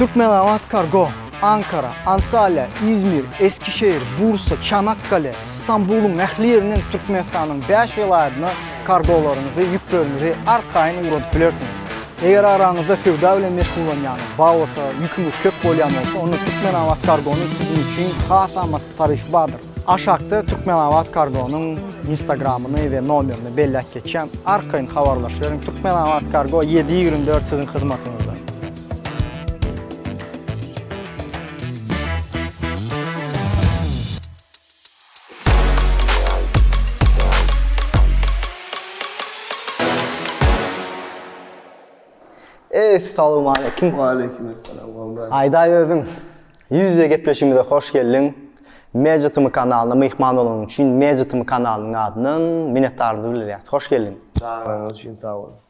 Türkmenabat-Kargo, Ankara, Antalýa, Izmir, Eskişehir, Bursa, Çanakkale, Stambulyň ähli ýerinden Türkmenistanyň bäş welaýatyna kargolaryňyzy, ýükleriňizi arkaýyn ugradyp bilersiňiz. Eger araňyzda söwda bilen meşgullanýan, baglasa, ýüküňiz köp bolýan bolsa, onda Türkmenabat-Kargonyň siziň üçin has amatly taryfy bardyr. Aşakda Türkmenabat-Kargonyň Instagramyny we nomerini belläp geçýän, arkaýyn habarlaşyberiň, Türkmenabat-Kargo ýedi ýigrimi dört siziň hyzmatyňyzda. Eý, salowmaleýkim. Waleýkim assalam, Gowmy? Aýdaý özüň. Ýüz-ýüze gepleşigimize hoş geldiň. Media TM kanalyna myhman bolanyň üçin Media TM kanalynyň adyndan minnetdarlygy bildirýäs. Hoş geldiň. Çagyryňyz üçin sag boluň.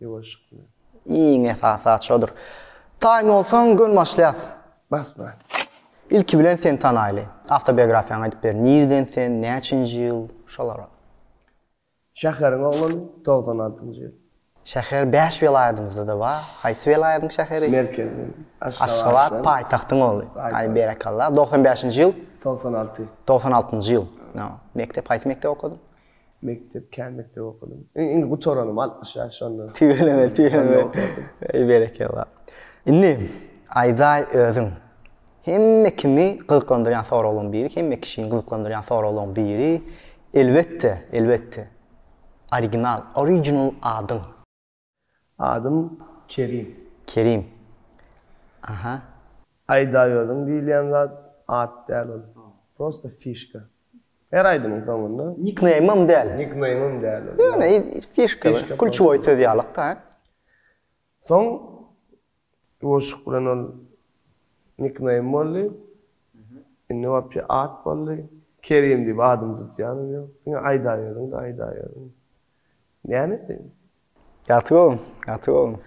Ýuwaşyk bilen. Iň esasy zat şodur. Taýyn bolsaň, göni başlaýas. Bas brat. Ilki bilen seni tanaýly. Awtobiografiýaňy aýdyp ber. Nirden sen, näçinji ýyl? Şolar. Şäheriň oglany, togsan altynjy ýyl. Şäher bäş welaýadymyzda-da bar. Haýsy welaýadyň şäheri? Merkezi. Aşgabat paýtagtyň ogly. Aý berekella. Doksan bäşinji ýyl? Togsan alty. Togsan altynjy ýyl. Mekdep haýsy mekdep okadyň? Mekdep, kän mekdep okadym. Iň, iň gutaranym altmyş ýaş şonda. Tüweleme, tüweleme. Eý, berekella. Indi, aýdaý özüň. Hemme kimi gyzyklandyrýan soraglaryň biri, hemme kişini gyzyklandyrýan soraglaryň biri, elbetde, elbetde, original, original adyň. Adym Kerim. Kerim. Aha. Aýdaýodyň diýilýän zat at däl ol. Prosta fişka. Her aýdymyň soňunda. Nikneýmym däl. Nikneýmym däl ol. Ýöne fişka bir. Kulçuwoý söz ýalykda. Soň Bu goşuk bilen ol nickname boldy. Indi wapşe at boldy. Kerim diýip adymy tutýanam ýok. Diňe aýdaberdiň-de aýdaberdiň. Näme edeýin? Ýagty gowy, ýagty gowy.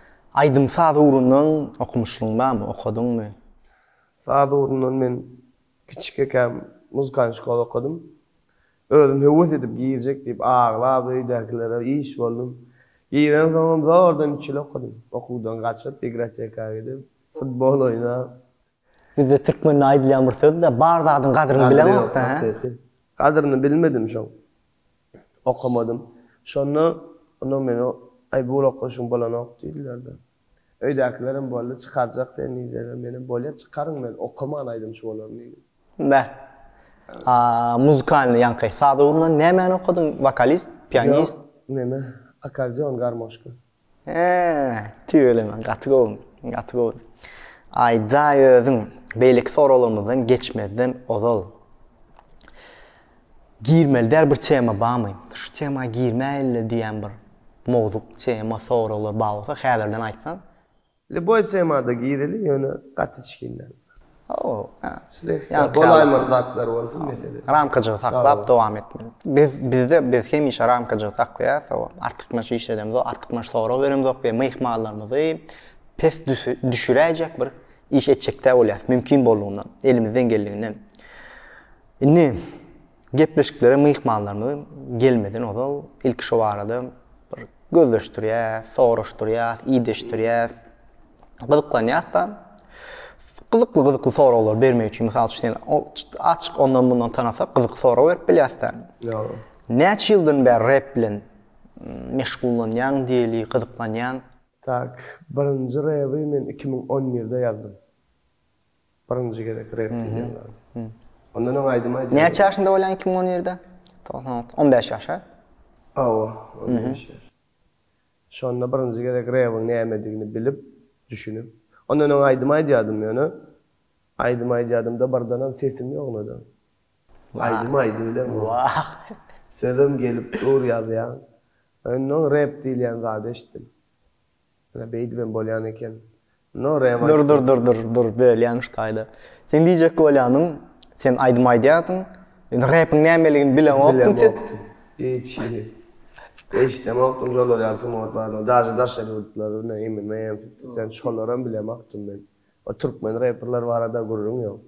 Aýdym-saz ugrundan okumyşlygyň barmy, okadyňmy? Saz ugrundan men kiçik ekäm muzkan şkola okadym. Özüm höwes edip girjek diýip aglap öýdäkilere iş boldum. Girensoňam zordan üç ýyl okadym. Okuwdan gaçyp, igroteka gidip, futbol oýnap. Bizde türkmende aýdylýan bir söz-dä, bar zadyň gadyryny bileňok-da, hä? Gadyryny bilmedim şoň. Okamadym. Şonda onam meni, Aý, bu ýyl okaşyň bolanok diýdiler-de. Öýdäkilerem boldy, çykarjak sen diýseler, menem bolýa, çykaryň men okaman aýdymçy bolaryn diýdim. Bä. A muzykalnyý ýaňky saza urlan nämäni okadyň, wokalist, pianist? Ýok, neme, akkordeon, garmoşka. He, tüweleme, gaty gowy, gaty gowy. Aýdaý özüň, beýleki soraglarymyzdan geçmezden ozal. Girmeli däl bir tema bamy. Şu tema girmäýeli diýen bir mowzuk, tema, soraglar bar bolsa häzirden aýtsaň. Liboý temada gireli ýöne gaty içgin däl. Hawa, ha. Slehka bolaýmaly zatlar bolsun mesele. Ramkajygy saklap dowam etmeli. Biz bizde biz hemişe ramkajygy saklaýas, hawa. Artykmaç iş edemzok, artykmaç sorag beremzok we myhmanlarymyzy pes düşüräýjek bir iş etjek däl bolýas mümkin boldugyna elimizden geldiginden. Indi gepleşiklere myhmanlarymyzy gelmeden ozal ilki şo barada bir gözleşdirýäs, soraşdyrýas, ideşdirýäs, gyzyklanýas-da. Gyzykly-gyzykly soraglar bermek üçin, mysal üçin, açyk ondan-mundan tanasak, gyzykly sorag berip bilýäs-de. Ýogy. Näçe ýyldan bäri rep bilen meşgullanýaň diýeli, gyzyklanýaň? Tak, birinji rebi men iki müň on birde ýazdym. Birinji gezek rep diýýän zady. Ondan öň aýdym aýdýardy. Näçe ýaşynda bolýaň iki müň on ýerde? Togsan alty. On bäş ýaş a? Hawa, on bäş ýaş. Şonda birinji gezek rebiň nämedigini bilip, düşünip. Ondan öň aýdym aýdýardym ýöne. Aýdym aýdýardym-da birdenem sesim ýognadan. Aýdym aýdybilem. Wah. Sözem gelip dur ýazýan. Ondan öň rep diýilýän zady eşitdim. Ýa beýdibem bolýan eken. No rewanş. Dur dur dur dur dur bölýän şu taýda. Sen diýjek bolýanyň sen aýdym aýdýarsyň. Men repiň nämeligini bilemokdym sen. Bilemokdym. Hiç hili. Eşdemokdym şolar ýaly sungat badyny. Daže daşary ýurtlar bilen Eminem, Fifty Cent şolaram bilemokdym men. O türkmen reperler barada gürrüň ýok.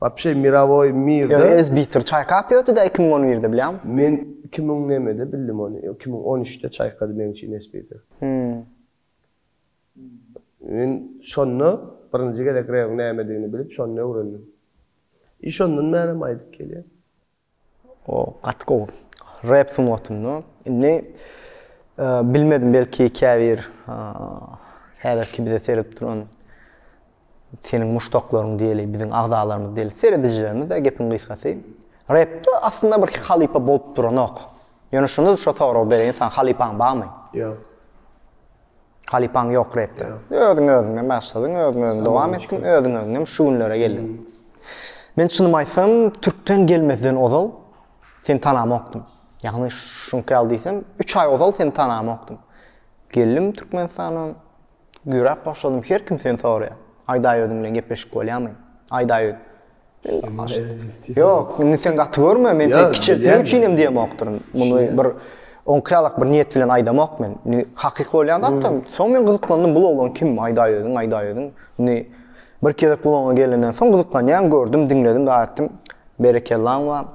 Wapşe mirovoy mir de. Ýöne Sbitter çaýkap ýötdüdä iki müň on birde bilýäňmi? Men iki müň nämede bildim ony, ýok iki müň on üçde çaýkady meň üçin Sbitter. Hümm. Men şonda birinji gezek rewiň nämedigini bilip şonda öwrendim. I şondan bärem aýdyp gelýän. O gaty gowy. Rap sungatynda indi bilmedim belki käbir häzirki bize seredip duran seniň muşdaklaryň diýeli biziň agzalarymyz diýeli seredijilerimiz-de gepiň gysgasy repde aslynda bir halypa bolup duranok. Ýöne şunda şo soragy bereýin saňa halypaň barmy? Ýok. Halypaň ýok repde. Özüň özüňden başladyň, özüň özüň dowam etdiň, özüň özüňem şu günlere geldiň. Men çynymy aýtsam, türkden gelmezden ozal seni tanamokdym. Ýagny şuňky ýaly diýsem, 3 aý ozal seni tanamokdym. Geldim Türkmenistana, güýräp başladym, her kim seni soraýar. Aýdaý özüň bilen gepleşip bolýarmy? Aýdaý öz. Ýok, indi sen gaty görme, men seni kiçeltmek üçin hem diýemokdyryn. Muny bir oňkaýalak bir niýet bilen aýdamok men. Indi hakyky bolýan zat-da. Soň men gyzyklandym, bu oglan kim? Aýdaý özüň, aýdaý özüň. Indi bir gezek bu oňa gelenden soň gyzyklanýan, gördüm, diňledim, dagy aýtdym, Berekellaň bar.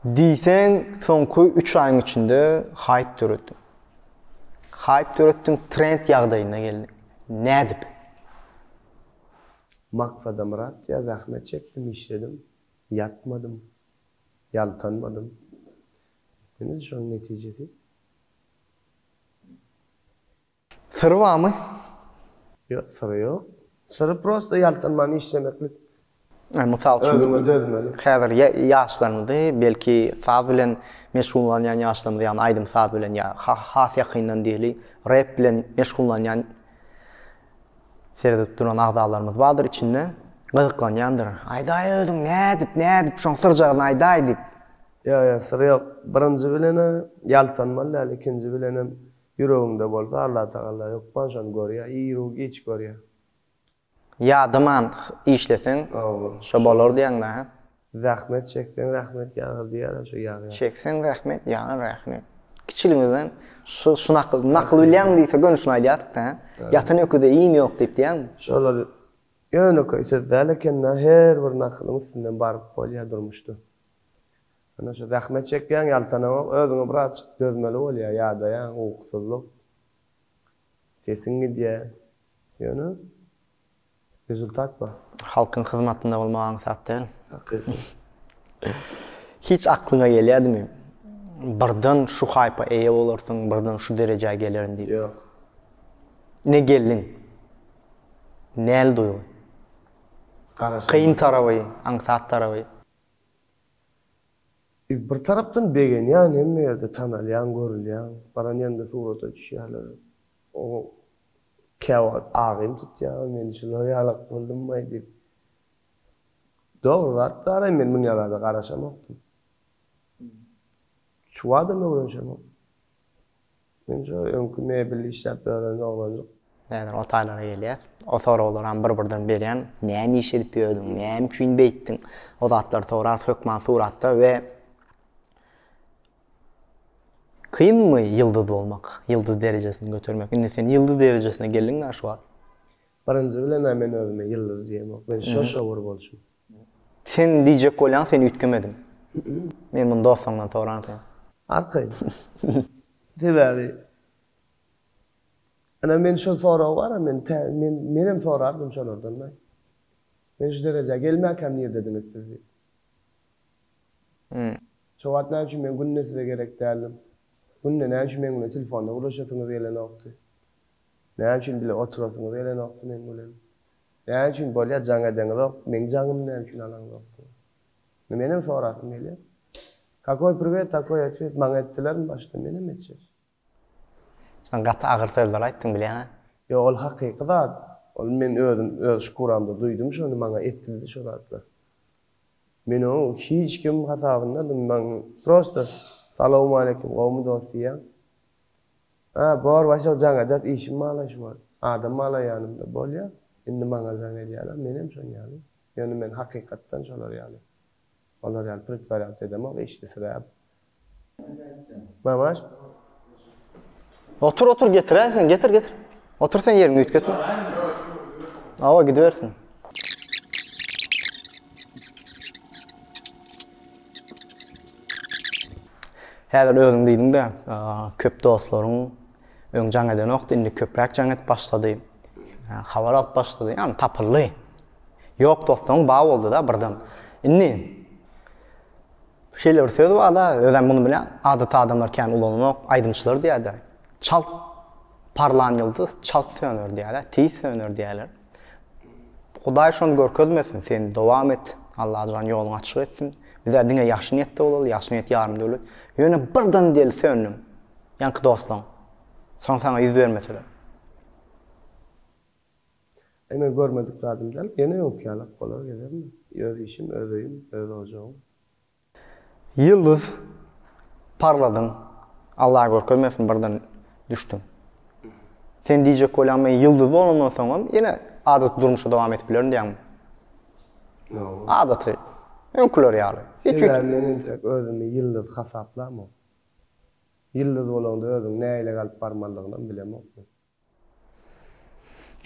Diýseň, soňky üç aýyň içinde haýp döretdiň. Haýp döretdiň, trend ýagdaýyna geldiň. Nädip? Maksadamyrat ýa zähmet çekdim, işledim, ýatmadym, ýaltanmadym. Etdiniz şonuň netijesi. Syry barmy? Ýok, syry ýok. Syry prosta ýaltanman işlemeklik. Mysal üçin, özüňe dözmeli. Häzir ýaşlarymyzy, belki saz bilen meşgullanýan ýaşlarymyzy, ýagny aýdym-saz bilen ýa has ýakyndan diýeli, rep bilen meşgullanýan. Seredip duran agzalarymyz bardyr içinde gyzyklanýandyr. Aýdaý özüň nädip, nädip şoň syrjagyny aýdaý diýip. Ýok ýok syr ýok. Birinji bilene ýaltanmaly däl ikinji bilenem ýüregiňde bolsa Allatagalla hökman şony görýär iru giç görýär. Ýadaman işleseň şo bolar diýýäňmi hä. Zähmet çekseň rahmet ýagar diýýärler şo ýagýar. Çekseň rahmet ýagar rahmet. Kiçiligimizden şu şu nakyl nakyl bilýäňmi diýse göni şuny aýdýardyk da ýatan öküze iým ýok diýip diýýäňmi? Şolar ýönekeý söz däl ekendä her bir nakylyň üstünden baryp bolýar durmuşda. Ine şu zähmet çekýäň ýaltanamok özüňe birazjyk dözmeli bolýar ýadaýaň ukusyzlyk sesiň gidýär ýöne Rezultat bar. Halkyň hyzmatynda bolmak aňsat däl. Hakyky. Hiç aklyňa gelýädimi, birden şu haýpa eýe bolarsyň, birden şu derejä gelerin diýip? Ýok. Ine geldiň. Näl duýgy? Garaşylmaz. Kyn taraby, aňsat taraby? Bir tarapdan begenýän, hemme ýerde tanalýaň, görülýäň. Baran ýerinde surata düşýärler. Oňa käwagt agym tutýar, men şular ýalak boldumbaý diýip. Dogry zat daraý men muňa bada garaşamokdym. Çuwadam öwrenişemok. Men şo öňki mebel işläp ýören oglanjyk. Häzir o taýlara gelýäs. O soraglaram bir-birden berýän. Näme iş edip ýördüň, näme üçin beýtdiň? O zatlary sorarys hökman suratda we Kynmy ýyldyz bolmak, ýyldyz derejesini götermek? Indi sen ýyldyz derejesine geldiň-dä şu wagt. Birinji bilen-ä men özüme ýyldyz diýemok. Men şo-şowur bolçum. Sen diýjek bolýaň, sen üýtgemediň. Men muny dostuňdan soransoň. Arkaýyn. Sebäbi ine men şol sorag bar-a, men tä, men, menem sorardym şolardan-da. Men şu derejä gelmäkäm nirdediňiz siz diýip. Hum. Şo wagt näme üçin men günde size gerek däldim? Günde näme üçin meň bilen telefonda gürleşesiňiz gelenokdy? Näme üçin bile oturasyňyz gelenokdy meň bilen? Näme üçin bolýa jaň edeňizok, meň jaňymy näme üçin alaňzokdy? Indi menem sorasym gelýä. Kakoý priwet, takoý otwet, maňa etdilermi başda, menem etjek. Sen gaty agyr sözler aýtdyň bilýäňä. Ýok ol hakyky zat ol men özüm öz şkuramda duýdum şony maňa etdildi şo zatlar men oň hic kim hasabynadym maň prosto salowmaleýkim gowmy dos diýýän a bor başak jaň edet işim malaýşy bor adam malaýanymda bolýa indi maňa jaň edýäler menem şoň ýaly ýöne men hakykatdan şolar ýaly Olar ýaly pritwarýatsiýa edemok işde sebäbi. Mamaş. Otur otur getiräý sen getir getir. Otur sen ýeriňde üýtgetme. Awa gidibersin. Häzir özüň diýdiň-de, köp dostlaryň öň jaň edenokdy, indi köpräk jaň edip başlady. Habar alyp başlady, ýagny tapyldy. Ýok dostuň ba boldy-da birden. Indi şeýle bir söz bar-da, özem muny bilýän, adaty adamlar kän ulananok, aýdymçylar diýer-de, Çalt parlan ýyldyz çalt söner diýer-de, tiz söner diýerler. Hudaý şony görkezmesin, sen dowam et, Allajan ýoluňy açyk etsin. Biz-ä diňe ýagşy niýetde bolaly, ýagşy niýet ýarym döwlet. Ýöne birden diýeli söndüň, ýaňky dostlaň. Soň saňa ýüz bermeseler. Eý men görmedik zadym däl, ýene öňki ýalak bolar gezemmi? Öz işim, öz öýüm, öz ojagym. Ýyldyz parladyň, Alla görkezmesin birden düşdüň. Sen diýjek bolýaň men ýyldyz bolandan soňam ýene adaty durmuşy dowam edip bilerin diýýäňmi? Ýok. Adaty, öňküler ýaly. Sebäbi men entek özümi ýyldyz hasaplamok. Ýyldyz bolanda özüň nähili galyp barmalydygynam bilemok men.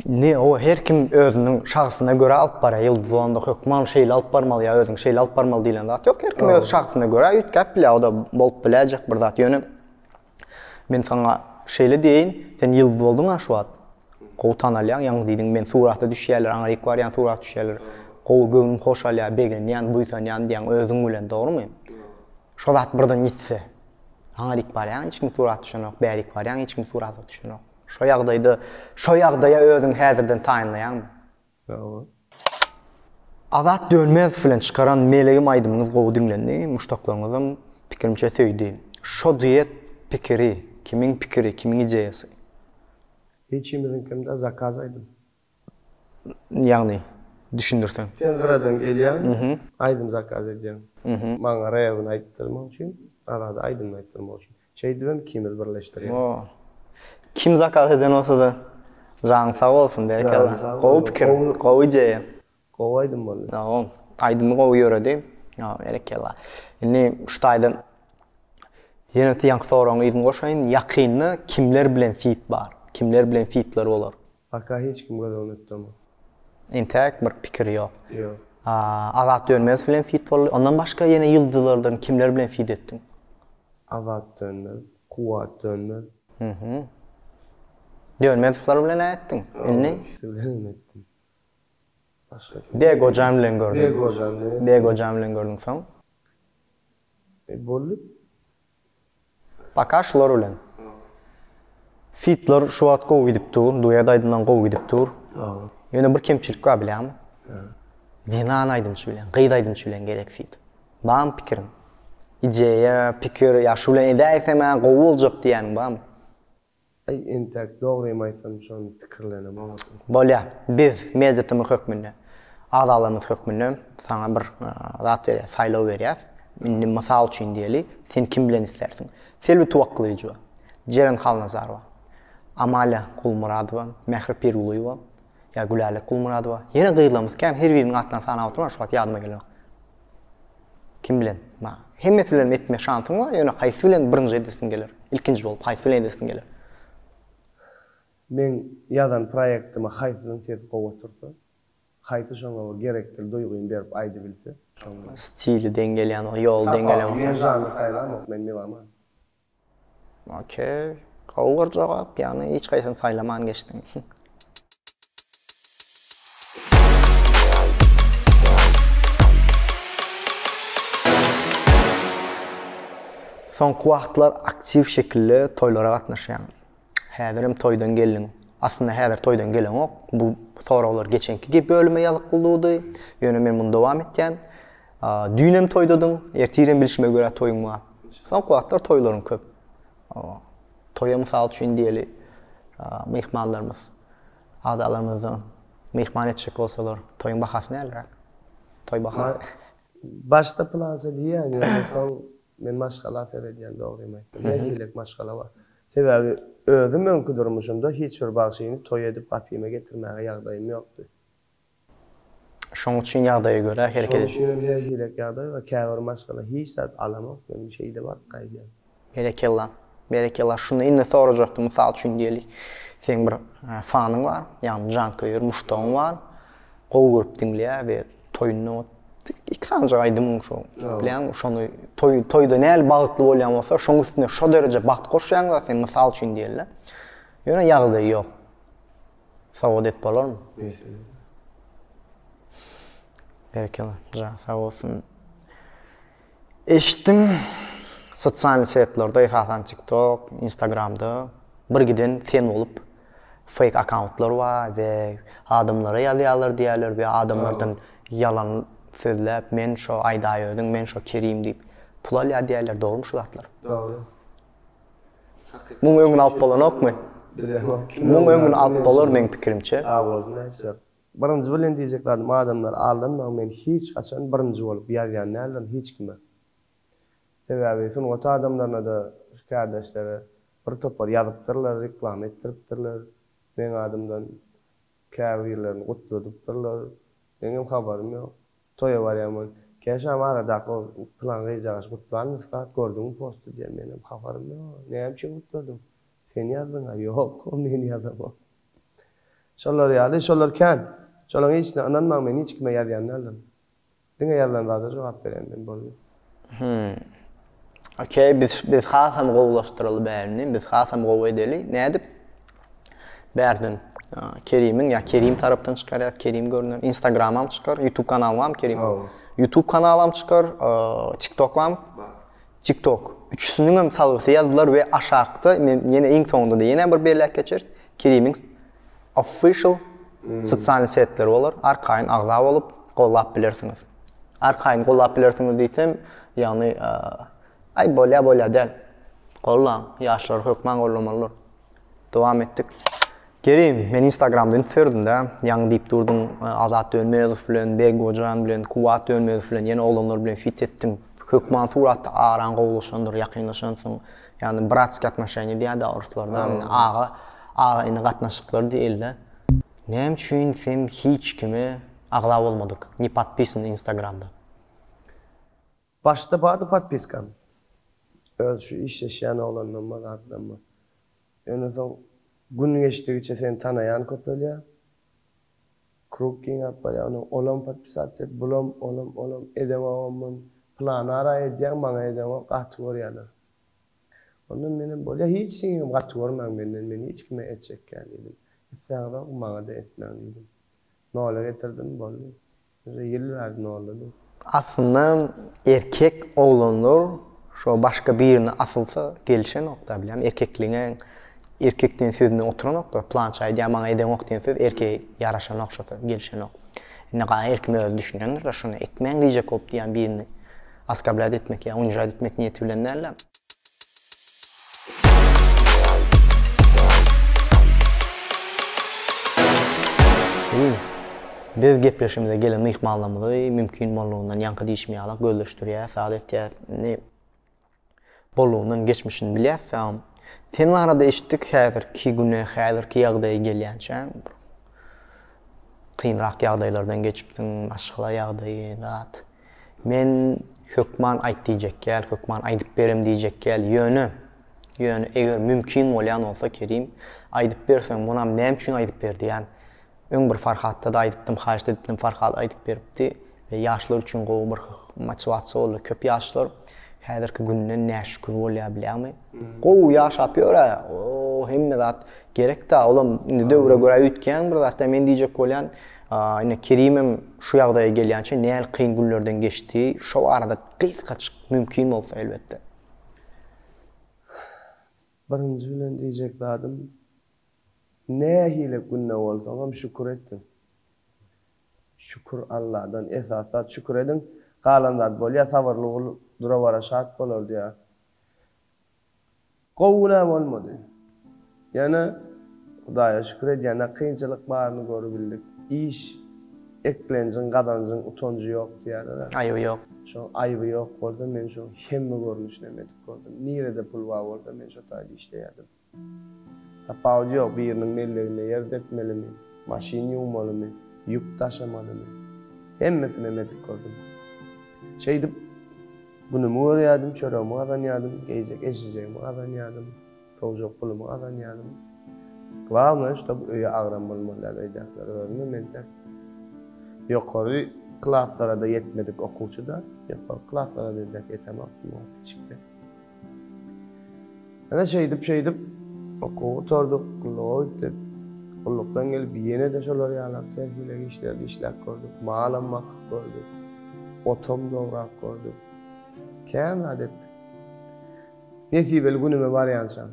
Indi o her kim özüniň şahsyna görä alyp barýar. Ýyldyz bolanda hökman şeýle alyp barmaly ýa özüňi şeýle alyp barmaly diýlen zat ýok. Her kim öz şahsyna görä üýtgäp bilýär. O-da bolup biläýjek bir zat. Ýöne men saňa şeýle diýeýin, sen ýyldyz bolduň-a şu wagt. Gowy tanalýaň, ýaňy diýdiň, men surata düşýärler, aňryk barýan surata düşýärler. Gowy, göwnüm hoşalýar, begenýän, buýsanýan diýýäň özüň bilen, dogrumy? Şo zat birden ýitse. Saňa dik barýan hiç kim surat düşenok, bärik barýan hiç kim surata düşenok. Şo ýagdaýda, şo ýagdaýa özüňi häzirden taýynlaýaňmy? Ýoga. Azat Dönmezow bilen çykaran Melegim aýdymyňyz gowy diňlendi, muşdaklaryňyzam pikirimçe söýdi. Şo duet pikiri, kimiň pikiri, kimiň ideýasy? Hiç kimiziňkinde zakaz aýdym. Ýagny düşündirseň. Sen gyradan gelýäň. Aýdym zakaz edýäň. Maňa rebini aýtdyrmak üçin, Azada aýdymyny aýtdyrmak üçin. Şeýdibem ikimizi birleşdirýäň. O. Kim zakaz eden bolsa-da, janyň sag bolsun, berekella. Gowy pikir, gowy ideýa. Gowy aýdym boldy. Saga ol. Aýdymy gowy ýöredi. Ýa berekella. Indi şu taýdan ýene siýanky soragyň yzyny goşaýyn. Ýakynda kimler bilen fit bar? Kimler bilen fitler bolar? Paka hiç kim göz öňüne tutamok. Entäk bir pikir ýok. Ýok. Azat Dönmezow bilen fit boldy. Ondan başga ýene ýyldyzlardan kimler bilen fit etdiň? Azat Dönmez, Kuwwat Dönmez. Hühü. Dönmezowlar bilen-ä etdiň. Indi? Ol ikisi bilen hem etdim. Başga kim? Dek ojan bilen gördüm. Dek ojan. Dek ojan bilen gördüm soň. E boldy. Paka şular bilen. Fitler şu wagt gowy gidip dur, duet aýdymdan gowy gidip dur. Ýöne bir kemçilik bar bilýäňmi? Zenan aýdymçy bilen, gyz aýdymçy bilen gerek fit. Bam pikiriň? Ideýa, pikir, ýa şu bilen edäýsem-ä gowy boljak diýýäniň bamy? Aý entäk dogrymy aýtsam şony pikirlenem otyryn. Bolýa biz mediatymyz hökmünde agzalarymyz hökmünde saňa bir zat berýäs saýlaw berýäs indi mysal üçin diýeli sen kim bilen islärsiň Selbi Tuwakgylyjowa Jeren Halnazarowa Amalia Gulmyradowa Mähri Pirgulyýewa ýa Gülälek Gulmyradowa ýene gyzlarymyz kän her biriniň atlaryny sanap oturman şu wagt ýadyma gelenok. Kim bilen? Ma, hemmesi bilenem etme şansyň bar, ýöne haýsy bilen birinji edesiň geler? Ilkinji bolup haýsy bilen edesiň geler? Meň ýazan proýektime haýsynyň sesi gowy otursa, haýsy şoňa bir gerekdil duýgyny berip aýdybilse, şoňa. Stili deň gelýän bolsa, ýoly deň gelýän bolsa. Tapawut, men žanr saýlamok, men meloman. Ok. Gowy bir jogap, ýagny hiç haýsyny saýlaman geçdiň. Soňky wagtlar aktiw şekilde toýlara gatnaşýaň. Häzirem toýdan geldiň. Aslynda häzir toýdan geleňok. Bu soraglar geçenki gep bölüme ýazykly durdy. Ýöne men muny dowam etýän. Düýnem toýdadyň, ertirem bilşime görä toýuň bar. Soňky wagtlar toýlaryň köp. Toýa mysal üçin diýeli, myhmanlarymyz, agzalarymyzdan myhman etjek bolsalar, toýuň bahasy näleräk? Toý bahasy. Başda plança diýýän, ýöne soň Men maşgala seredýän dogrymy aýtsam. Näme diýlek maşgala bar. Sebäbi özüm öňki durmuşymda hiç bir bagşyny toý edip gapyma getirmäge ýagdaýym ýokdy. Şoň üçin ýagdaýa görä hereket edýän. Şoň üçin hem her hilek ýagdaý bar. Käbir maşgala hiç zat alamok men şeýle baryp gaýdýan. Berekella. Berekella. Şunda indi sorajakdym mysal üçin diýeli seň bir fanyň bar ýagny janköýer muşdagyň bar. Gowy görüp diňleýär we toýunda ot iki sanjak aýdymyň şo bilýäňmi şony toý toýda näli bagtly bolýan bolsa şoň üstüne şo dereje bagt goşýaňda sen mysal üçin diýelle ýöne ýagdaýy ýok sowgat et bolarmy berekella ja sag bolsun Eşitdim, sosial setlerde, esasan TikTok, Instagramda bir giden sen bolup fake akauntlar bar we adamlara ýazýarlar diýýärler we adamlardan ýalan sözläp men şo Aýdaýöziň, men şo Kerim diýip pul alýar diýýärler, dogrymy şu zatlar? Dogry. Muň öňüni alyp bolanokmy? Bilemok. Muň öňüni alyp bolar meň pikirimçe. Sag bolsun aýtjak. Birinji bilen diýjek zadym adamlar aldanmaň men hiç haçan birinji bolup ýazýan däldirin hiç kime. Sebäbi sungat adamlarynada şu kärdeşlere bir topar ýazypdyrlar reklama etdiripdirler meň adymdan käbirlerini gutladypdyrlar meňem habarym ýok toýa barýamon kä şam aradaky ol pylan gyzjagazy gutlan ussat gördüňmi posty diýen menem habarym ýok näme üçin gutladyň sen ýazdyňa ýok men ýazamok. Şolar ýaly, şolar kän. Şolaň hiçsine ynanmaň men hiç kime ýazýan däldirin. Diňe ýazylan zada jogap berýän men boldy. Hümm. Okey biz biz hasam gowulaşdyraly bärini biz hasam gowy edeli nädip bärden Kerimiň ýa Kerim tarapdan çykarýas Kerim görüner instagramam çykar ýutub kanaly barmy Kerim ýutub kanalam çykar tiktok barmy TikTok. Üçüsiniňem salgysy ýazdylar we aşakda men ýene iň soňunda-da ýene bir belläp geçeris. Kerimiň official sosial setleri bolar. Arkaýyn agza bolup gollap bilersiňiz. Arkaýyn gollap bilersiňiz diýsem, ýagny aý bolýa bolýa däl. Gollaň, ýaşlar hökman gollamalydyr. Dowam etdik. Kerim, men instagramda üns berdim-dä, ýaňy diýip durduň, Azat Dönmezow bilen, Beggojan bilen, Kuwwat Dönmezow bilen, ýene oglanlar bilen fit etdiň. Hökman suratda araň gowulaşandyr, ýakynlaşansyň. Ýagny bratskiý atnoşeniýa diýýär-dä oruslarda, aga, aga-ini gatnaşyklary diýeli-dä. Näme üçin sen hiç kime agza bolmadyk, ne podpisan instagramda? Başda bardy podpiskam. Öz şu işleşýän oglanlarma, zatlarma. Ýöne soň gün geçdigiçe seni tanaýan köpelýär. Krug giňäp barýar. Ony olam podpisats et, bulam, olam, olam. Edeňogam men planara edýän, maňa edeňok, gaty görýärler. Onda menem bolýa hiç kimem gaty görmäň menden, men hiç kime etjek däl diýdim. Isläňizok, maňa-da etmäň diýdim. Nola getirdim, boldy. Ýöne ýyl bäri nolady. Aslynda erkek oglanlar şo başga birine asylsa gelişenokda bilýän erkekligiňe erkek diýen sözüne oturanokda plança aýdýar maňa edeňok diýen söz erkeä ýaraşanok şo söz gelişenok indi gaýa erkim özi düşünendirda şuny etmäň diýjek bolup diýýän birini oskablat etmek ýa unijat etmek niýeti bilen dälda. Biz biz gepleşigimize gelen myhmanlarymyzy mümkin bollugyndan ýaňky diýşim ýalak gözleşdirýäs, saz etýäs. Indi bollugyndan geçmişini bilýäs saň. Sen barada eşitdik häzirki güne, häzirki ýagdaýa gelýänçä. Kynrak ýagdaýlardan geçipdiň, maşgala ýagdaýy, zat. Men hökman aýt diýjekgäl, hökman aýdyp berem diýjekgäl, ýöne, ýöne eger mümkin bolýan bolsa, Kerim, aýdyp berseň, munam näme üçin aýdyp ber diýýän. Öň bir Farhatda-da aýdypdym, haýyşt edipdim, Farhat aýdyp beripdi we ýaşlar üçin gowy bir motiwasiýa boldy. Köp ýaşlar häzirki günden näşükür bolýar, bilýäňmi? Gowy ýaşap ýör-ä. Oo, hemme zat gerek-dä. Olam indi döwre görä üýtgän bir zat-da. Men diýjek bolýan, ine, Kerimem şu ýagdaýa gelýänçä nähili kyn günlerden geçdi, şo barada gysgajyk mümkin bolsa, elbetde. Birinji bilen diýjek zadym, nähili günde bolsaňam şükür etgin. Şükür Alladan, esas zat şükür ediň, galan zat bolýar, sabyrly bol, dura-bara şat bolar diýýär. Gowuna bolmady. Ýöne Hudaýa şükür edýän ne kynçylyk baryny görübildik. Iş, eklenjiň, gazanjyň utanjy ýok diýýärler-ä. Aýby ýok. Şo aýby ýok bolsa men şo hemme görnüşinem edip gördüm. Nirede pul bar bolsa men şo taýda işleýärdim. Tapawudy ýok, biriniň melleginde ýer depmelimi, maşyn ýuwmalymy, ýük daşamalymy. Hemmesinem edip gördüm. Şeýdip, günümi görýärdim, çöregimi gazanýardym, geýjek eşijegimi gazanýardym, sowjak pulumy gazanýardym. Glawnoý, ştob öýe agram bolmaly däl öýdäkiler görünýär, men tek ýokary klaslara-da ýetmedik okuwçy-da, ýokary klaslara-da ýetemokdym, o kiçikde. Ine şeýdip-şeýdip okuw gutardyk, gulluga gitdik. Gullukdan gelip ýene-de şolar ýalak terhileg işlerde işläp gördük. Malam bakyp gördük. Otam dograp gördük. Kän zat etdik. Nesibeli günüme barýançam.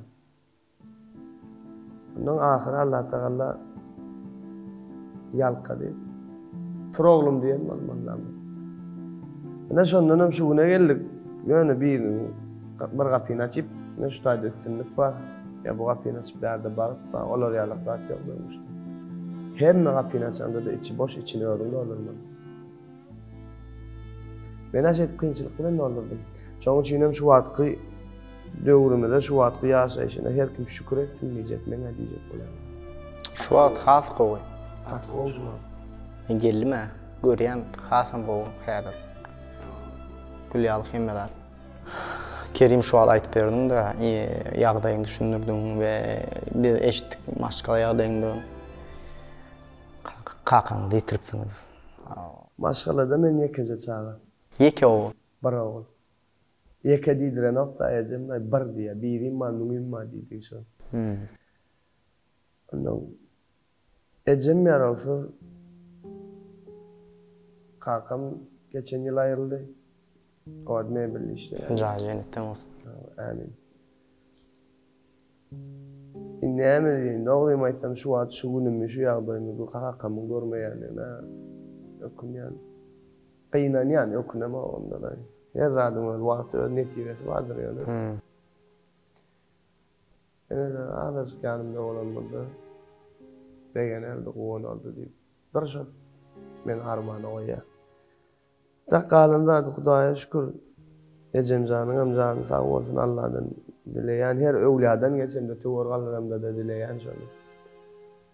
Ondan ahyry Allatagalla ýalkady. Tur oglum diýen bol mollam. Ine şondan hem şu güne geldik. Ýöne bir gün bir gapyny açyp, ine şu taýda üstünlik bar. Ýa bu gapyny açyp bärde bagt bar. Olar ýalak zat ýok durmuşda. Hemme gapyny açanda-da içi boş, içini özüň doldurmaly. Men ajaýyp kynçylyk bilen doldurdym. Şoň üçinem şu wagtky döwrümize, şu wagtky ýaşaýşyna her kim şükür etsin diýjek, men-ä diýjek bolaryn. Şu wagt has gowy. Gaty gowy şu wagt. Men geldim-ä, görýän hasam gowy häzir. Gül ýaly hemme zat. Kerim şu wagt aýdyp berdiň-de, ýagdaýyňy düşündirdiň we biz eşitdik maşgala ýagdaýyňdan. Kakaňyzy ýitiripsiňiz. Maşgalada men ýekeje çaga. Ýeke ogul. Bir ogul. Ýeke diýdirenok-da ejem, Aý, bir diýýä, birim bar, müňim bar diýdigi şol. Onnoň ejem ýarawsyz. Kakam geçen ýyl aýryldy. Owad mebelde işleýärdi. Jaýy jennetden bolsun. Amin. Indi näme diýeýin? Dogrymy aýtsam, şu wagt şu günümi, şu ýagdaýymy bu kakamyň görmeýändigine ökünýän. Gynanýan, ökünem-ow onda-laý. Her zadyň öz wagty, öz nesibesi bardyr ýöne. Ene-de azajyk ýanymda bolan bolsa, begenerdi, guwanardy diýip, bir şol meni armana goýýar. Sak galan zady Hudaýa şükür ejemjanyňam jany sag bolsun Alladan dileýän her öwladan geç hemde töwir galanamdada dileýän şony.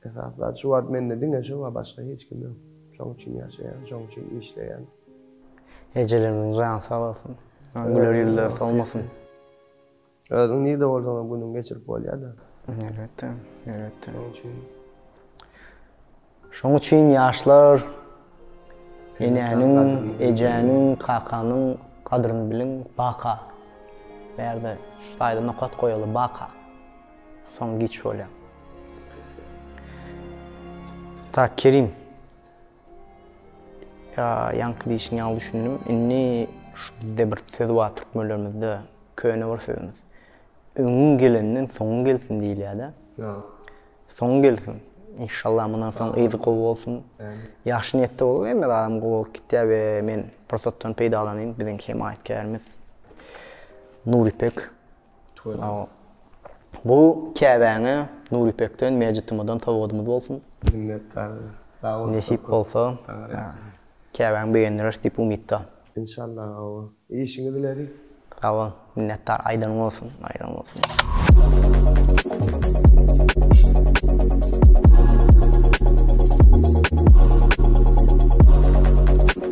Esasy zat şu wagt mende diňe şu wa başga hiç kim ýok. Şoň üçin ýaşaýan şoň üçin işleýän. Ejelerimiziň jany sag bolsun. Güler ýüzleri solmasyn. Özüň nirde bolsaňam günüňi geçirip bolýar-da. Elbetde, elbetde. Şoň üçin. Şoň üçin ýaşlar enäniň, ejäniň, kakanyň gadryny biliň, baka. Bu ýerde şu taýda nokat goýaly, baka. Soň giç bolýar. Tak, Kerim. Ýa ýaňky diýşiň ýaly düşündim. Indi şu bizde bir söz bar türkmenlerimizde, köne bir sözümiz. Öňüň gelenden soňuň gelsin diýilýär-de. Ýa. Soňuň gelsin. Inşallah mundan soň yzy gowy bolsun. Ämin. Ýagşy niýetde bolup hemme zadam gowy bolup gitýär we men pursatdan peýdalanyň biziň hemaýatkärimiz Nuripek Bu Käbäňe, Nur Ipekden, Mejit Tumadan sowadymyz bolsun. Minnetdar. Sag bol. Nesip bolsa, Käbäňi begendireris diýip umytda. Enşalla awa. Işiňiz ileri. Sag bol. Minnetdar. Aýdanyň bolsun. Aýdanyň bolsun. Nur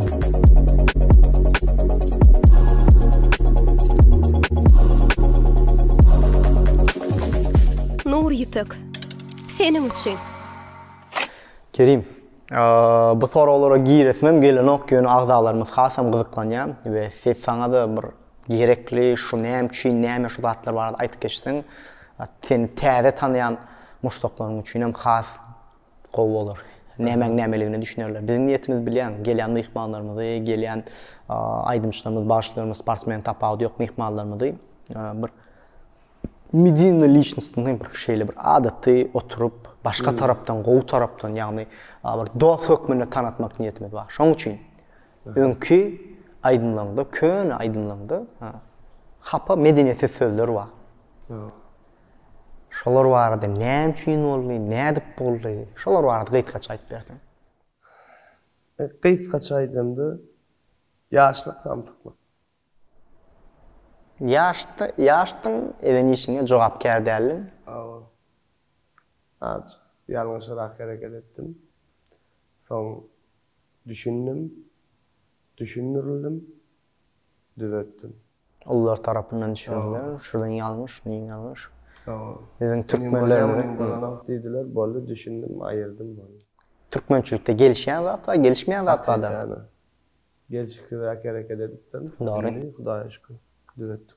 Ýüpek. Seniň üçin. Kerim, bu soraglara giresimem gelenok, ýöne agzalarymyz hasam gyzyklanýar we ses saňa-da bir gerekli, şu näme üçin, näme şu zatlar barada aýdyp geçseň, seni täze tanaýan muşdaklaryň üçin hem has Gowy bolar. Nämäň nämeligine düşünerler. Biziň niýetimiz bilýäň, gelýän myhmanlarymyzy, gelýän aýdymçylarymyzy, bagşylarymyzy, sportsmeni tapawudy ýok myhmanlarymyzy bir medinnyý liçnostny diýip bir şeýle bir adaty oturyp, başga tarapdan, gowy tarapdan, ýagny bir dost hökmünde tanatmak niýetimiz bar. Şoň üçin öňki aýdymlaryňda, köne aýdymlaryňda hapa medeniýetsiz sözler bar. Şolar barada näme üçin boldy, nädip boldy? Şolar barada gysgaça aýdyp berseň. Gysgaça aýdanda, ýaşlyk samsyklyk. Ýaşdy, ýaşdyň, eden işiňe jogapkär däldiň. Hawa. Aç, ýalňyşyrak hereket etdim. Soň düşündim, düşündirildim. düzetdim. Ulylar tarapyndan düşüriler. Şuradan ýalňyş, muňa ýalňyş. Biziň türkmenlerimiziň. Diýdiler, boldy, düşündim, aýyrdym, boldy. Türkmençilikde gelişýän waka, gelişmeýän waka-da. Gelşiksizräk hereket edipdim. Dogry. Indi Hudaýa şükür, düzetdik.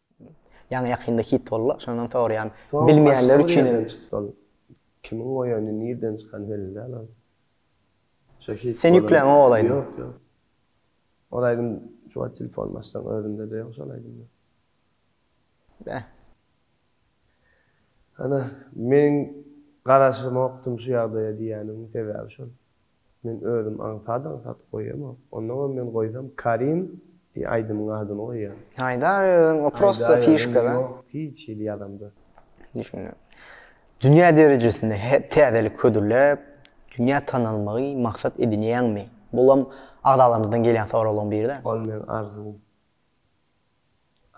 Ýaňy ýakynda hit boldy şondan sorýan bilmeýänler üçin elem. Kimiň goýany nirden çykany belli däl ol. Sen ýükläňok ol aýdymy. Ýok ýok. Ol aýdym şu wagt telefonymy açsaň özümde-de ýok şol aýdym. Beh. Ana, meniň garaşymokdym şu ýagdaýa diýýäniň sebäbi şol. Men özüm aňsat-aňsat goýamok. Onnoňam men goýsam Karim diýen aýdymyň adyny goýýan. Haýda özüň o prosta fişka da. Ýok hiç hili ýazamda. Düşündim. Dünýä derejesinde täzelik hödürläp, dünýä tanalmagy maksat edinýäňmi? Bulam agzalarymyzdan gelýän soraglaryň biri-dä. Ol meň arzuwym.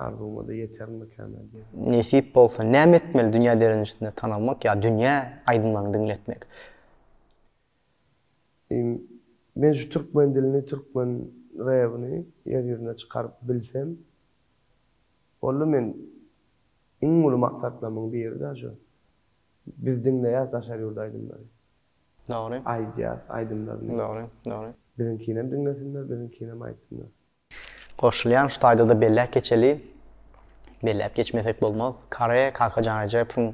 Arzuwymada ýeterimikän-ä diýýän. Nesip bolsa näme etmeli dünýä derejesinde tanalmak ýa dünýä aýdymlaryňy diňletmek? Men şu türkmen dilini, türkmen rebini ýer ýüzüne çykaryp bilsem, boldy men iň uly maksatlarymyň biri da şu. Biz diňleýäs daşary ýurt aýdymlary. Dogry. Aýdýas aýdymlaryny. Dogry, dogry. Biziňkinem diňlesinler, biziňkinem aýtsynlar. Goşulýan şu taýda-da belläp geçeli, belläp geçmesek bolmaz, Kare Kakajan Rejepowyň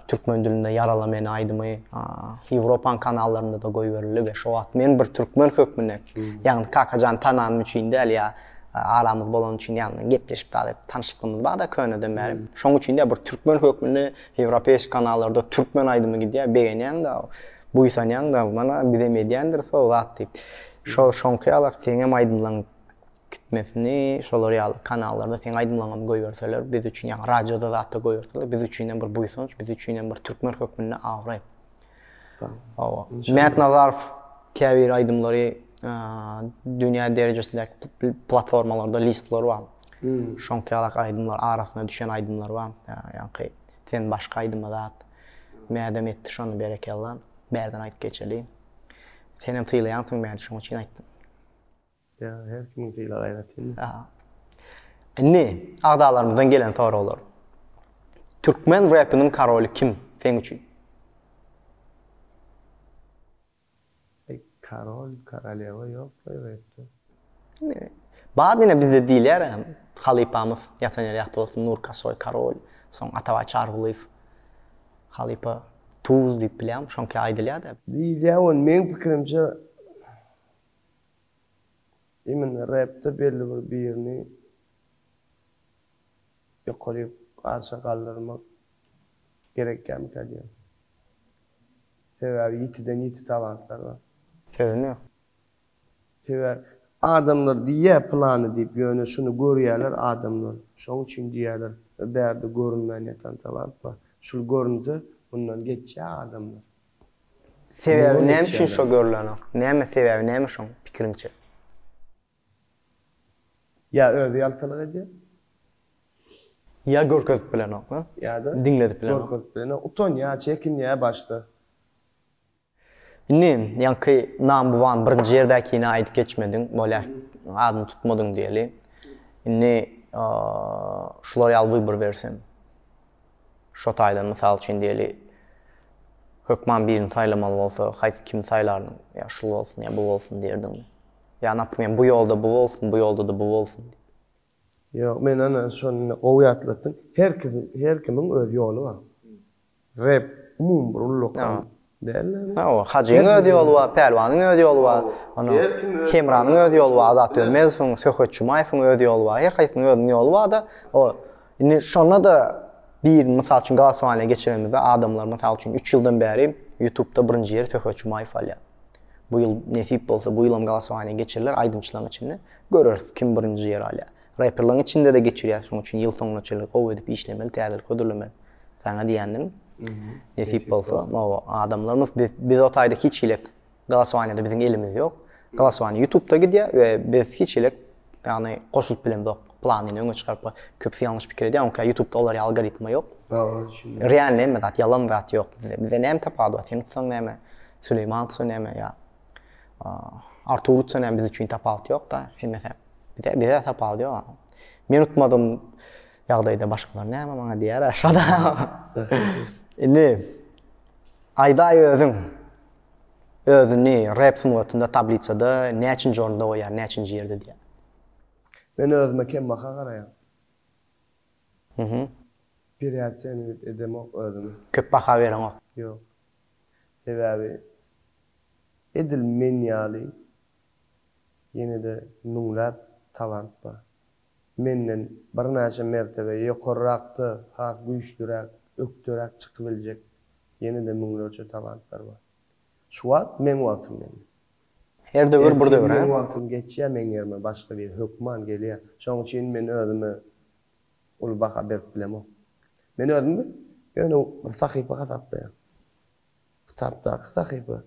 türkmen dilinde Ýarala meni aýdymy Ýewropaň kanallarynda-da goýberildi we şo wagt men bir türkmen hökmünde, ýagny Kakajany tananym üçin däl ýa aramyz bolany üçin ýagny gepleşip bar edip tanyşlyklymyz bar-da köneden bäri, şoň üçin däl bir türkmen hökmünde Ýewropeýski kanallarda türkmen aýdymy gidýär, begenýäň-de, buýsanýaň-da, mana bizem edýändiris o zat diýip. Şol şoňky ýalak seňem aýdymlaň gitmesini şolar ýaly kanallarda seň aýdymlaňam goýberseler biz üçin ýaňy radioda zatda goýberseler biz üçinem bir buýsanç biz üçinem bir türkmen hökmünde abraý. Hawa. Mätnazarow käbir aýdymlary dünýä derejesindäki platformalarda listler bar. Şoňky ýalak aýdymlar arasyna düşen aýdymlar bar. Ýaňky sen başga aýdyma zat mädem etdi şony berekella. Bärden aýdyp geçeli. Senem sylaýansyň meni şoň üçin aýtdym. Ýa, her kimiň sylag aýratyn. Ýa. Indi agzalarymyzdan gelen soraglar. Türkmen repiniň karoly kim seň üçin? Ey, karol, korolýewa ýok, ey, repde. Bad ine bizde diýilýär hem halypamyz ýatan ýeri ýagty bolsun Nurkasoý Karol, soň Atabaý Çarygulyýew halypa Tuz diýip bilýäň şoňky aýdylýar-da. Diýilýär ony meň pikirimçe imенно repde belli bir birini ýokaryk arşa galdyrmak gerekýärmikä diýýän. Sebäbi ýitiden ýiti talantlar bar. Sözüm ýok. Sebäbi adamlar diýýär pylany diýip, ýöne şuny görýärler adamlar. Şoň üçin diýýärler we bärde görünmän ýatan talap bar. Şul görünse, mundan geçýär adamlar. Sebäbi näme üçin şo görülenok? Näme sebäbi näme şoň pikiriňçe? Ýa özi ýaltalyk edýär. Ýa görkezip bilenok. Ýa-da diňledip bilenok. Görkezip bilenok. Utanýar, çekinýär başda. Indi, ýaňky number one birinji ýerdäkini aýdyp geçmediň, bolýar, adyny tutmadyň diýeli. Indi şular ýaly wybor bersem. Şo taýdan mysal üçin diýeli, hökman birini saýlamaly bolsa, haýsy kimi saýlardyň? Ýa şul bolsun, ýa bu bolsun diýerdiňmi? Ýa, naprimýer, bu ýolda bu bolsun, bu ýolda-da bu bolsun? Ýok men ana şony indi gowy ýatlatdyň. Her kim her kimiň öz ýoly bar. Rep umumy bir ullakan däl indi. Hawa Hajyň öz ýoly bar, Pälwanyň öz ýoly bar. Ony Hemranyň öz ýoly bar, Azat Dönmezowyň, Söhbet Jumaýewiň öz ýoly bar. Her haýsynyň özüniň ýoly barda. O indi şonda-da birini mysal üçin glasowaniýa geçirenimizde adamlar mysal üçin üç ýyldan bäri ýutubda birinji ýeri Söhbet Jumaýew alýar. Bu ýyl nesip bolsa bu ýylam glasowaniýa geçiriler aýdymçylaryň içinde. Göreris kim birinji ýeri alýar. Reperligiň içinde-de geçirýäs şoň üçin ýyl soňuna çenli gowy edip işlemeli täzelik hödürlemeli. Saňa diýendim. Nesip bolsa oba adamlarymyz biz o taýda hiç hilik glasowaniýada biziň elimiz ýok. Glasowaniýa ýutubda gidýär we biz hiç hilik ýagny goşulyp bilemzok. Planyny öňe çykaryp köpüsi ýalňyş pikir edýär onka ýutubda olar ýaly algoritma ýok. Dogry düşündim. Realny hemme zat ýalan zat ýok bizde. Bizde näme tapawudy bar seni tutsaň näme Süleýmany tutsaň näme ýa Artur utsa näme biz üçin tapawut ýok-da, hemmesi bize bize tapawudy ýok. Men utmadym ýagdaýda başgalar näme maňa diýer aşada. Indi aýdaý özüň özüni rep sungatynda tablisada näçinji orunda goýýar, näçinji ýerde diýýär? Men özüme kembaha garaýan. Pirýaçenit edemok özümi. Köp baha bereňok. Ýok. Sebäbi edil men ýaly ýene-de müňläp talant bar. Menden birnäçe mertebe ýokarrakda has güýçlüräk, ökderäk çykybiljek ýene-de müňlerçe talantlar bar. Şu wagt meň wagtym ýaly. Her döwür bir döwür-ä. Ertir meň wagtym geçýär meň ýerime başga biri hökman gelýär. Şonuň üçin men özüme uly baha berip bilemok. Men özümi ýöne bir sahypa hasaplaýan. Kitapdaky sahypa.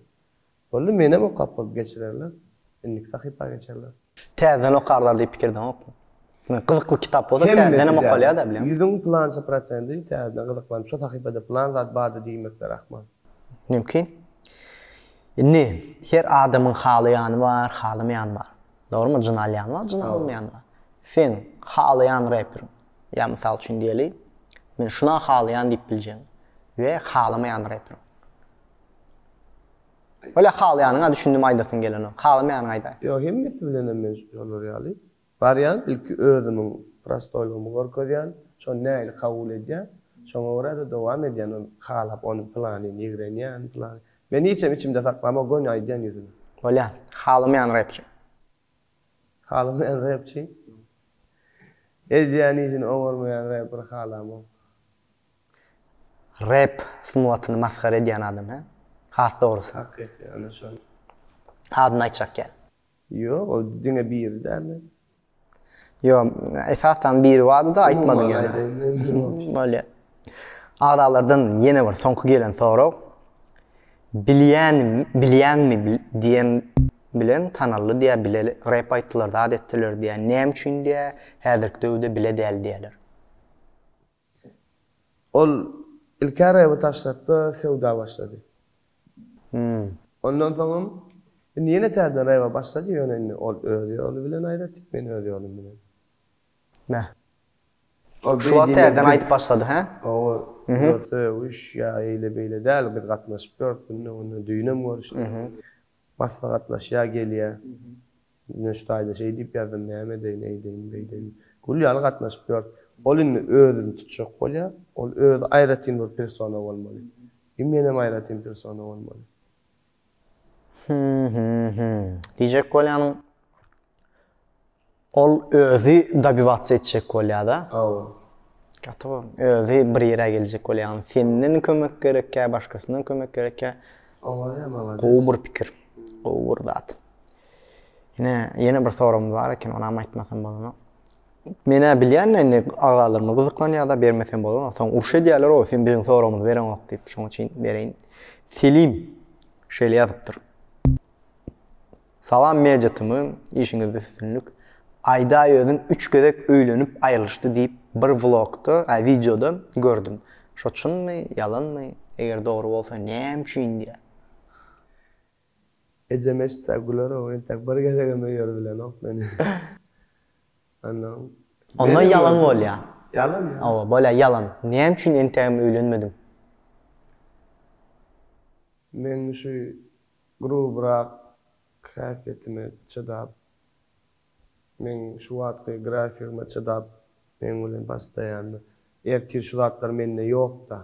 Boldy, menem okap bolup geçirerler. Indiki sahypa geçerler. Täzeden okarlar diýip pikirdeňokmy? Gyzykly kitap bolsa täzedenem okalýa-da bilen. Ýüzüň pylança prosendi täzeden gyzyklanyp şo sahypada pylan zat bardy diýmekler ahmal. Mümkin. Indi her adamyň halaýany bar, halamaýany bar. Dogrymy jyn alýan bar jyn almaýan bar. Sen halaýan reperiň ýa mysal üçin diýeli men şuna halaýan diýip biljegin we halamaýan reperiň. Öle halaýanyňa düşündim aýdasyň gelenok halamaýanyňy aýdaý. Ýok hemmesi bilenem men şolar ýaly. Barýan ilki özümiň prostoýlygymy görkezýän şony nägile kabul edýän şoňa görä-de dowam edýän ony halap ony pylany ýigrenýän pylany Men hiçem içimde saklama gony aýdýan ýüzüme. Bolýa. Halamaýan repçi. Halamaýan repçi. Edýän işini oňarmaýan reperi halamok. Rep sungatyny masgara edýän adam he. Has dogrusy. Hakyky ana şol. Adyny aýtjak ýaly. Ýok ol diňe biri dälde. Yo, esasdan biri bardy-da, aýtmadyň ýöne. Bolýa. Agzalardan ýene bir soňky gelen sorag. Bilýän, bilýäňmi diýen bilen tanaldy diýä bile rep aýtdylar, zat etdiler diýä. Näme üçin diýä, häzirki döwde bile däl diýäler. Ol ilki Araby taşlapda söwda başlady. Ondan soňam indi ýene täzeden Raýaba başlady, ýöne indi ol öz ýoly bilen aýratýk, men öz ýolum bilen. Mä. Ol Şu wagt täzeden aýyp başlady, hä? Hawa, ýöne söýüş ýa eýle-beýle däl, biz gatnaşyp ýörüs günde, onda düýnem görüşdik. Basda gatnaşýar, gelýär. Nöştaýda şeý diýip ýazdym, näme edeýin, eýdeýin, beýdeýin. Gül ýaly gatnaşyp ýörüs. Ol indi özüni tutjak bolýar. Ol özi aýratyn bir persona bolmaly. I menem aýratyn persona bolmaly. Hü-hü-hü. Diýjek bolýanyň. Ol özi dobivats etjek bolýada. Hawa. Gaty bu. Özi bir ýere geljek bolýan. Senden kömek gerekkä, başgasyndan kömek gerekkä. Owaýa malades. Gowy bir pikir. Gowy bir zat. Ine, ýene bir soragym bar eken, onam aýtmasam bolanok. Menä bilýän indi agalarym gyzyklanýada bermesem bolanok. Soň uruş edýärler o, sen biziň soragymyzy bereňok diýip, şoň üçin bereýin. Selim şeýle ýazypdyr. Salam media tmy işiňizde üstünlik. Aýdaý özüň üç gezek öýlenip aýrylyşdy diýip bir vlogda a wideoda gördüm. Şo çynmy ýalanmy eger dogry bolsa näme üçin diýýä. Ejem eşitse güler ow entek bir gezegem öýer bilenok meni. Ondan. Onda ýalan bolýa. Ýalan ýa. Ow bolýa ýalan. Näme üçin entegem öýlenmediň. Meň şu Grubrak häsiýetime çydap, meň şu wagtky grafigime çydap meň bilen bastaýanda, ertir şu zatlar mende ýok-da,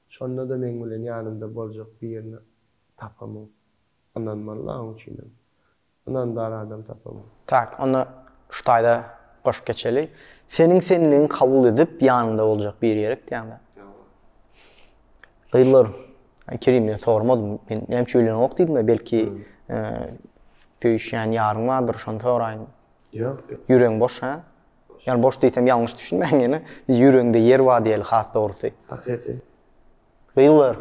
şonda-da meň bilen ýanymda boljak birini tapamok. Ynanmaly-la oň üçinem. Ynandar adam tapamok. Tak, onda şu taýda goşup geçeli. Seniň senligiňi kabul edip, ýanyňda boljak biri gerek diýýäň-dä. Ýa-a. Gyzlar, Kerimden sormadym. Men näme üçin öýlenok diýdim-ä, belki söýüşýän ýaryň bardyr, şony soraýyn. Ýok, ýok. Ýüregiň boş, hä? Ýa boş diýsem ýalňyş düşünmäň ýene. Ýüregiňde ýer bar diýeli, has dogrusy. Hakyky. Gyzlar,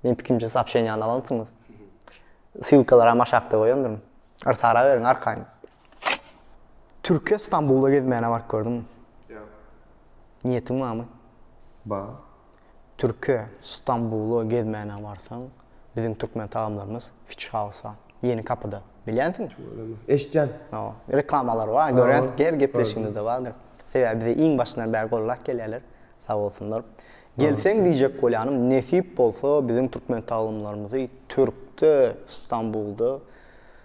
meniň pikirimçe soobşeniýany alansyňyz. Ssylkalaram aşakda goýandyryn. Yrsara beriň arkaýyn. Türkiýe Stambula gezmäne baryp gördüňmi? Ýok. Niýetiň barmy? Bar. Türkiýe Stambula gezmäne barsaň, biziň türkmen tagamlarymyz Fish House-a, Ýeni kapyda. Bilýänsiňmi? Tüweleme. Eşitýän. Hawa. Reklamalary bar, görýän, her gepleşigimizde bardyr. Sebäbi bize iň başyndan bäri gollap gelýärler. Sag bolsunlar. Gelseň diýjek bolýanym, nesip bolsa biziň türkmen tagamlarymyzy Türkde, Stambulda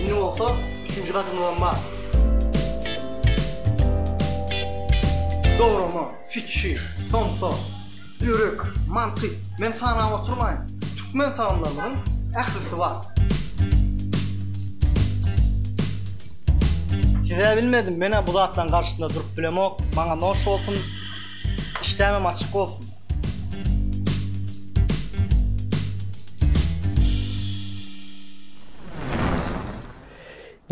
Indi bolsa üçünji gadymyzam bar. Dograma, fikir, somsa, ýürek, mantyk, men sanap oturmaýyn. Türkmen tagamlarynyň ählisi bar. Size bilmedim, men-ä bu zatlaryň garşysynda durup bilemok. Maňa noş bolsun. Işdämem açyk bolsun.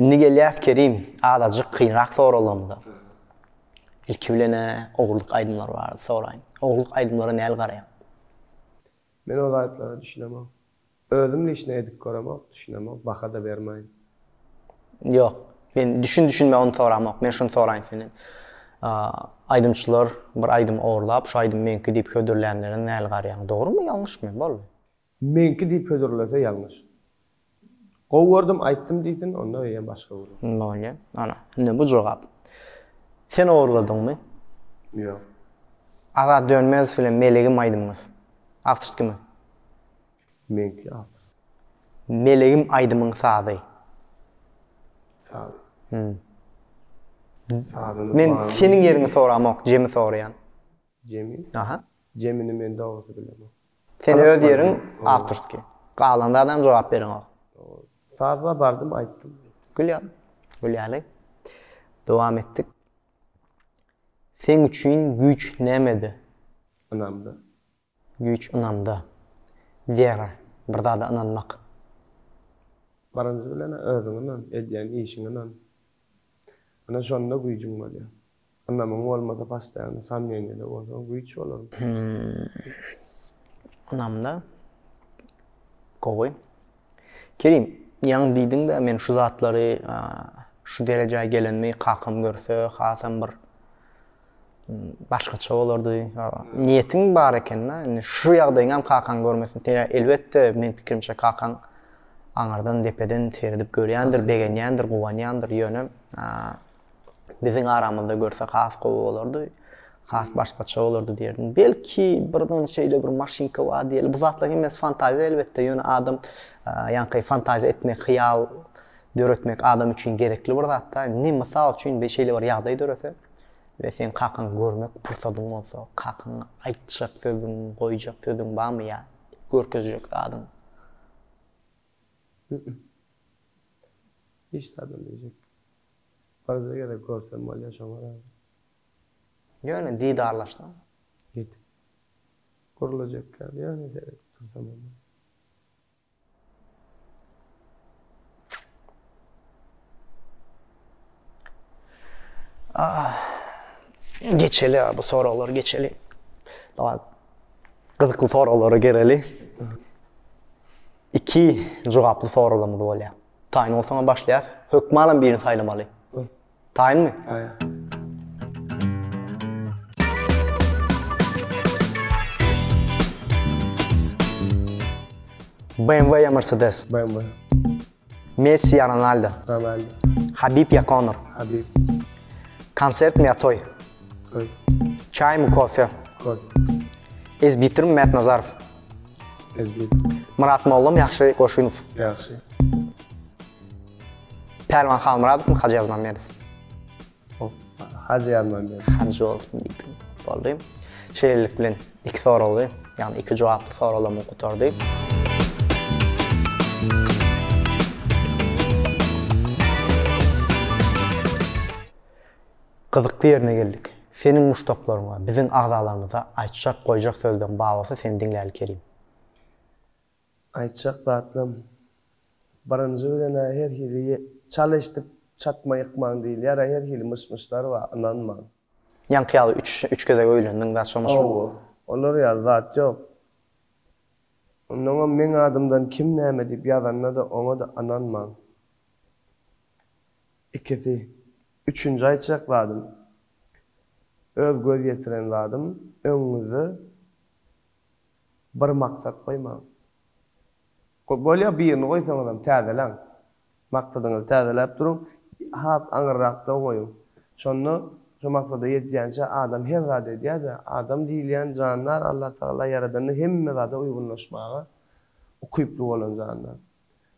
Indi gelýäs Kerim, azajyk kynrak soraglarymyza. Ilki bilen-ä ogurlyk aýdymlary barada soraýyn. Ogurlyk aýdymlara näli garaýaň? Men o zatlara düşünemok. Özüm lişne edip göremok, düşünemok, baha-da bermaýyn. Ýok. Men düşün-düşünme ony soramok. Men şuny soraýyn senden. Aýdymçylar bir aýdym orlap, şu aýdym meňki diýip hödürlänlere näli garýaň? Dogrymy, ýalňyşmy? Boldy. Meňki diýip hödürlese ýalňyş. Gowy gördüm aýtdym diýsin onda öýe başga gürrüň. Bolýa. Ana, indi bu jogap. Sen ogurladyňmy? Ýok. Azat Dönmezow bilen Melegim aýdymyňyz. Awtor kim? Meňki awtor. Melegim aýdymyň sazy. Sazy. Hum. Sazyny Men banan- seniň ýeriňi soramok, Jemi soraýan. Jemi? Aha. Jemini men dogrusy bilemok. Sen öz ýeriň awtorskiý. Galan zadam jogap bereňok. Sazba bardym aýtdym. Gül ýaly. Gül ýaly. Dowam etdik. Seň üçin güýç nämede? Ynamda. Güýç ynamda. Wera, bir zada ynanmak. Birinji bilen özüňe ynan, edýän işiňe ynan. Ine şonda güýjüň bolýar. Ynamyň bolmasa postoýanny somneniýada bolsaň güýç bolarmy? Ynamda gowy. Kerim, ýaňy diýdiň-de men şu zatlary şu derejä gelenimi kakam görse hasam bir başgaça bolardy. Niýetiň bar eken-dä. Indi şu ýagdaýyňam kakaň görmesin. Ýa elbetde meň pikirimçe kakaň aňyrdan depeden seredip görýändir, begenýändir, guwanýandyr. Ýöne biziň aramyzda görse has gowy bolardy. Has başgaça bolardy diýerdim. Belki birden şeýle bir maşynka bar diýeli. Bu zatlar hemmesi fantaziýa elbetde. Ýöne adam ýaňky fantaziýa etmek, hyýal döretmek adam üçin gerekli bir zat da. Ne mysal üçin bir şeýle bir ýagdaý dörese we sen kakaň görmek pursadyň bolsa, kakaň aýtjak sözüň, goýjak sözüň barmy ýa görkezjek zadyň? Hiç zat bilmejek. Birje gezek görsem bolýa şoňa da. Ýöne didarlaşsaň. Ýetik. Gurlajekka ýöne seredip tursam onda. Ah. Geçeli bu soraglary geçeli. Dawa. Gyzykly soraglara geleli. Iki jogaply soralarymyz bolýar. Taýyn bolsaňa başlaýas. Hökmalam birini saýlamaly. Taýynmy? BMW ya Mercedes? BMW. Messi ya Ronaldo? Ronaldo. Habib ya Conor? Habib. Konsert mi ya toy? Toy. Çay mı kofe? Kofe. Ezbitir mi Mert Nazarov? Ezbek. Myrat Mollam ýagşy Goşunow. Ýagşy. Pälwan Halmyradowmy Hajy Ýazmammedow? Hop, Hajy Ýazmammedow. Hajy bolsun diýdim. Boldy. Şeýlelik bilen iki soragy, ýagny iki jogaply soraglarymyz gutardy. Gyzykly ýerine geldik. Seniň muşdaklaryňa, biziň agzalarymyza aýtjak, goýjak sözleň bar bolsa seni diňläli Kerim. Aýtjak zatlam. Birinji bilen-ä her hili çal eşdip çatma ýykmaň diýilýär-ä, her hili myş-myşlar bar, ynanmaň. Ýaňky ýaly üç üç gezek öýlendiň zat şonuň üçin. Hawa, olar ýaly zat ýok. Onnoňam meň adymdan kim näme diýip ýazanda-da oňa-da ynanmaň. Ikisi. Üçünji aýtjak zadym. Öz göz ýetiren zadym, öňüňizde bir maksat goýmaň. Bolýa birini goýsaňyzam täzeläň. Maksadyňyzy täzeläp duruň. Has aňyrrakda goýuň. Şonda şo maksada ýetýänçä adam her zady edýär-de. Adam diýilýän jandar Allatagala ýaradany hemme zada uýgunlaşmaga ukyply bolan jandar.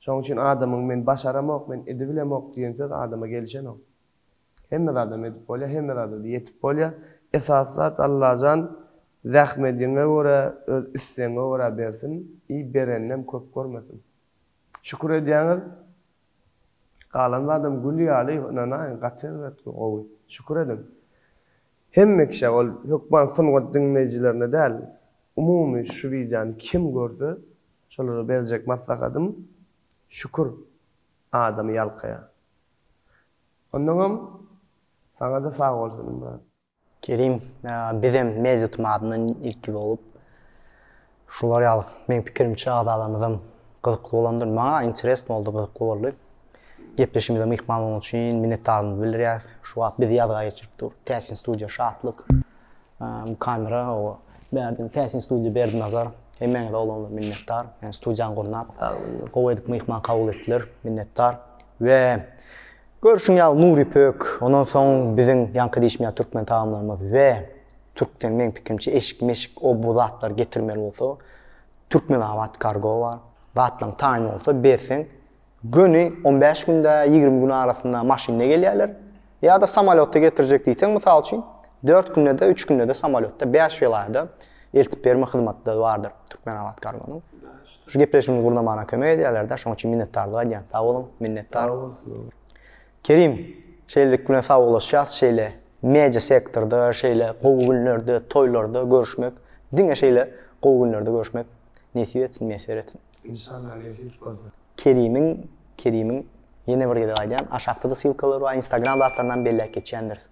Şonuň üçin adamyň men başaramok, men edibilemok diýen söz adama gelişenok. Hemme zadam edip bolýar, hemme zadada ýetip bolýar. Esasy zat Allajan zähmediňe görä, öz islegiňe görä bersin i bereninem köp görmesin. Şükür edýäňiz, galan zadam gül ýaly ynanaýyň gaty erbet gowy. Şükür ediň. Hemme kişä ol hökman sungat diňleýjilerine däl umumy şu wideony kim görse şolara berjek maslahatym şükür adamy ýalkaýa. Onnoňam saňada sag bolsun brat. Kerim bizem mejlis madyndan ilki bolup Şular ýaly, meň pikirimçe agzalarymyzam gyzykly bolandyr. Maňa interesno boldy, gyzykly boldy. Gepleşimize myhman bolany üçin minnetdarymyzy bildirýäris. Şu wagt bizi ýazga geçirip dur. Täsin studiýa şatlyk. Bu kamera oba Berdin, Täsin studiýa Berdinazar. Hemmäňize olanlar minnetdar. Ýani studiýany gurnap, gowy edip myhman kabul etdiler. Minnetdar. We görşüň ýaly Nurypök, ondan soň biziň ýaňky diýişmeýär türkmen tagamlarymyz we Türkden meň pikimçe eşik meşik o bu zatlar getirmeli bolsa Türkmenabat kargo bar zatlaň taýyn bolsa berseň göni on bäş günde ýigrimi gün arasynda maşynda gelýärler ýada samalýotda getirjek diýseň mysal üçin dört gündede üç gündede samalýotda bäş welaýada eltip berme hyzmatlary bardyr Türkmenabat kargonyň şu gepleşigimizi gurnamana kömek edýärlerde şoň üçin minnetdarlyk aýdýan sag boluň minnetdar Kerim, şeýlelik bilen sagbaglaşýas, şeýle media sektorda, şeýle gowy günlerde, toýlarda görüşmek, diňe şeýle gowy günlerde görüşmek nesip etsin, miýesser etsin. Inşallah nesip bolsa. Kerimiň, Kerimiň, ýene bir gezek aýdýan, aşakda-da silkalar bar, instagram zatlaryndan belläp geçýändiris.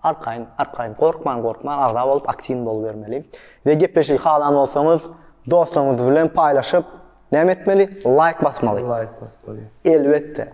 Arkaýyn, arkaýyn, gorkman, gorkman agza bolup aktiwny bolubermeli. We gepleşigi halan bolsaňyz, dostuňyz bilen paýlaşyp, näme etmeli? Laýk basmaly. Laýk basmaly. Elbetde.